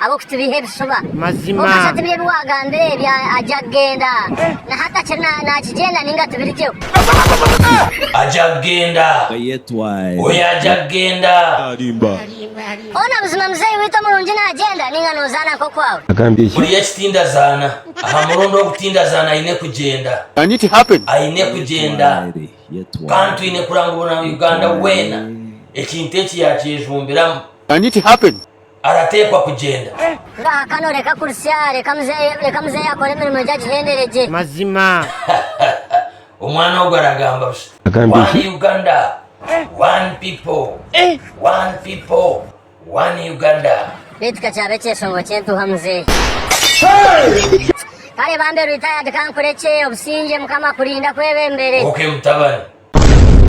ab'okutubeiha ebishuba. Kwonka tibiri ebi waagambire ebi agya kugenda, na hati akiri naakigyenda nainga tibiri gyeho. Agya kugenda. Oyo agya kugenda. Hoona buzima muzeeyi waitu omurungi naagyenda nainga noozaana nk'okwawe? Buri eki tindazaana aha murundi ogu tindazaana aine kugyenda. Aine kugyenda. Kandi twine kuranga Obuna-Uganda weena ekintu eki yaakyejumbiramu. arateekwa kugyenda. Ngahakano reka kurisya reka muzeeyi akore emirimo egyo agihendere gye. Mazima. Omwana ogwo aragamba busha. Agamba enki? One Uganda, one people, one people, one Uganda. Beitu ka kyaaba ekyeshongo ky'entuuha muzeeyi. Kare bambe retired ka nkurekye obusingye mukama akurinda akwebembere. Ok mutabani.